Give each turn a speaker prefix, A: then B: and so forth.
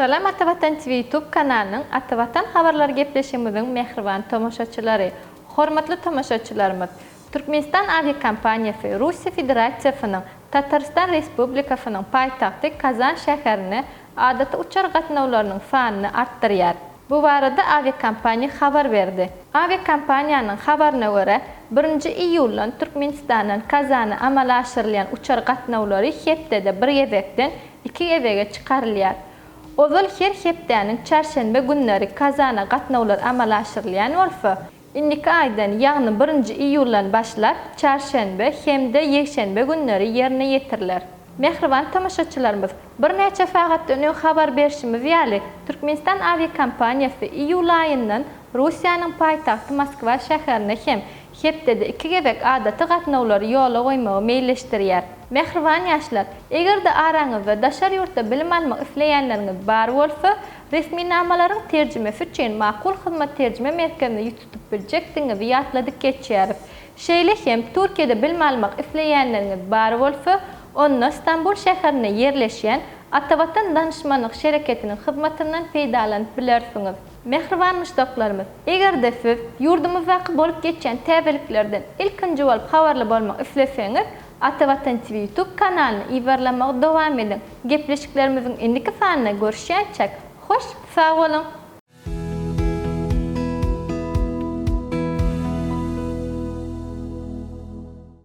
A: Salam Ata Watan TV YouTube kanalynyň Ata Watan habarlary gepleşigimiziň mähriban tomaşaçylary! Hormatly tomaşaçylarymyz! Türkmenistan awiakompaniýasy Russiýa Federasiýasynyň Tatarystan Respublikasynyň paýtagty Kazan şäherine adaty uçar gatnawlarynyň sanyny artdyrýar. Bu barada awiakompaniýa habar berdi. Awiakompaniýanyň habaryna görä, birinji iýuldan Türkmenistandan Kazana amala aşyrylýan uçar gatnawlary hepdede bir gezekden iki gezege çykarylýar. Ozal her hepdäniň çarşenbe günleri Kazana gatnawlar amala aşyrylýan bolsa, Indiki aýdan, ýagny birinji iýuldan başlap, çarşenbe hem-de ýekşenbe günleri ýerine ýetiriler. Mähriban tomaşaçylarymyz, birnäçe sagatdan öň habar berşimiz ýaly, Türkmenistan awiakompaniýasy iýul aýyndan Russiýanyň paýtagty Moskwa şäherine hem hepdede iki gezek adaty gatnawlary ýola goýmagy meýilleşdirýär. Mähriban ýaşlar, eger-de araňyzda daşary ýurtda bilim almak isleýänleriňiz bar bolsa, Resminamalaryň terjimesi üçin Makul Hyzmat terjime merkezine ýüz tutup biljekdigiňizi ýatladyp geçýäris. Şeýle hem, Türkiýede bilim almak isleýänleriňiz bar bolsa, onda Stambul şäherinde ýerleşýän Atavatan danyşmanlyk şereketiniň hyzmatyndan peýdalanyp bilersiňiz. Mähriban muşdaklarymyz! Eger-de siz ýurdumyzdaky bolup geçýän täzeliklerden ilkinji bolup habarly bolmak isleseňiz, Ata Watan TV YouTube kanalyny yzarlamagy dowam ediň. Gepleşiklerimiziň indiki sanynda görüşýänçäk, hoş sag boluň!